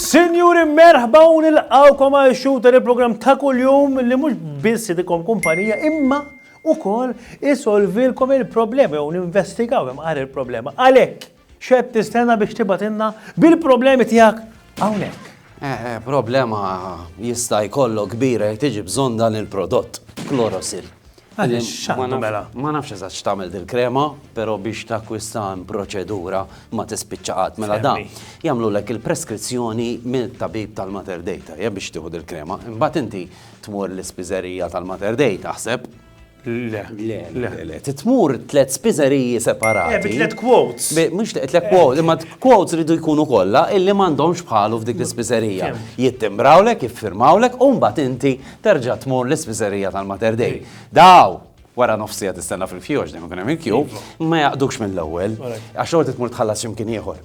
Sinjuri merħba u nilqawkom għal shooter il-programm ta' kuljum li mhux biss idikom kumpanija imma ukoll isolvilkom il-problema jew ninvestigaw hemm il-problema. Għalhekk X'qed tistenna biex tibgħatilna bil-problemi tiegħek hawnhekk? Eh, eh, problema jista' jkollok kbira jekk tiġi bżonn dan il-prodott, klorosil. Mela? Ma nafx eżatt x'tagħmel dil-krema, però biex takkwista proċedura ma tispiċċa qatt mela dan. Jagħmlulek il-preskrizzjoni minn tabib tal-Mater Data, jekk biex tieħu dil-krema. Imbagħad inti tmur l-ispiżerija tal-Mater Data, aħseb, Le. Le, le, le. Titmur tlet spiżeriji separati. Eh, bi tlet quotes. Mux tlet eh. quotes, imma quotes ridu jkunu kollha illi m'għandhomx bħalu f'dik l-ispiżerija. Jittimbrawlek, jiffirmawlek, u mbagħad inti terġa' tmur l-ispiżerija tal-Mater Dei. Daw, wara nofsija tistenna fil-fjoġ dejjem ikun hemm il-kju, iva. ma jaqdux mill-ewwel, għax xogħol titmur tħallas x'imkien ieħor.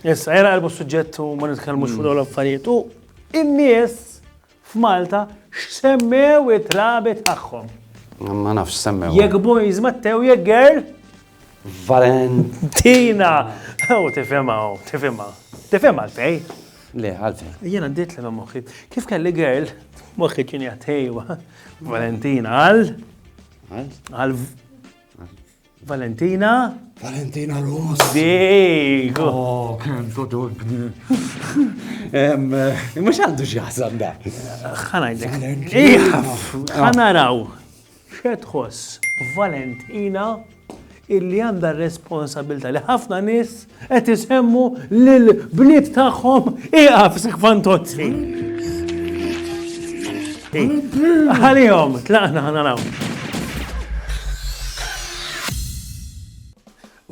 Issa, jena għalbu suġġett u ma nitkellmux mm. fuq l affarijiet u in-nies f'Malta x'semmew it-trabi tagħhom. Ma nafx semmew. Jekk boys mattew jekk girl. Valentina! U tifema, u tifema. Tifema għalfej? Le, għalfej. Jena għaddit li moħħi. Kif kelli girl, moħħi kien jgħatejwa. Valentina għal? Għal? Għal Valentina? Valentina Ross. Dik! Oh, kem todobni. Mux għandu xieħsan da. Xanajdek. Xanaraw. Xetħos Valentina illi għanda responsabilta li ħafna nis Qed isemmu lil bliet tagħhom ieqaf sik fantozzi. Għalihom, tlaqna ħana naraw.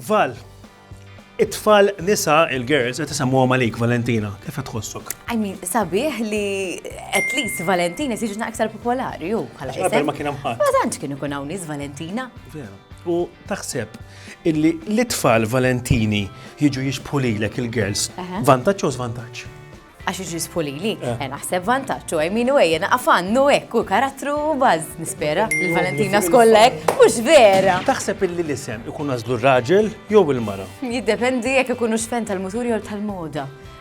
Val, it-tfal nisa il-girls qed isemmuhom għalik Valentina, kif qed tħossok? I mean, sabiħ li at least Valentina siġna aktar popolari ju bħala isem. Ma kien hemm ħadd. Ma tantx kien ikun hawn nies Valentina. Vera. U taħseb Illi l-itfal Valentini jiġu jixbħu lilek il-girls. Vantaġġ jew żvantaġġ? għax iġisfu li li, eh. eh, naħseb vantaċ u għajminu għajja naqafannu għek u karattru baz, nispera, il-Valentina skollek, mux vera. Taħseb illi l-isem ikun għazlu raġel jew il-mara? Jiddependi jek ikunu xfen tal-muturi jew tal-moda.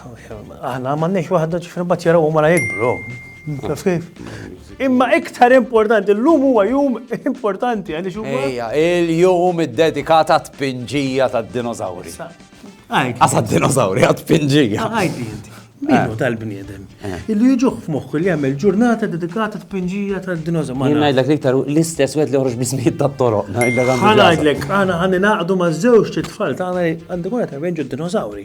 Aħna m'għandniex waħda ġifri mbagħad jarawhom wara jikbru. Imma iktar importanti, l-lum huwa jum importanti għalli xumma. Ejja, il-jum id-dedikat għat pinġija ta' dinozawri. Għasa dinozawri għat pinġija. Għajdi, Minu eh. tal-bniedem. Eh. Illi jġuħ f'moħħu li jagħmel ġurnata dedikata t pinġija ta' dinozawri. Jien ngħidlek iktar l-istess wieħed li joħroġ biżmiet ta' toroq Ħana ngħidlek, għana ħani naqdu ma' żewġ tfal tagħna għandu kuna ta' d dinozawri.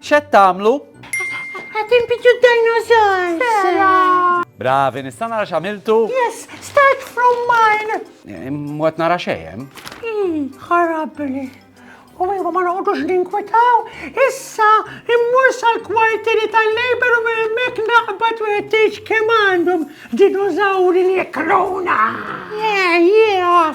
X'qed tagħmlu? Qed inbidu d-dinosaurs. Bravi, nista' nara x'għamiltu? Yes, start from mine. Eh, Mwet nara xejn. Hmm, ħarabni. U iva ma noqgħodux ninkwitaw, issa immur sal-kwartieri tal-Labor u minn hemmhekk naqbad wieħed tgħid kemm għandhom dinozawri li jekluna. Yeah, yeah,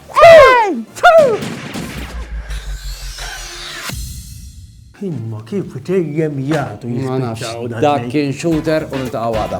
Imma kif dejjem jgħatu jispiċċaw dak kien shooter u niltaqgħu għada.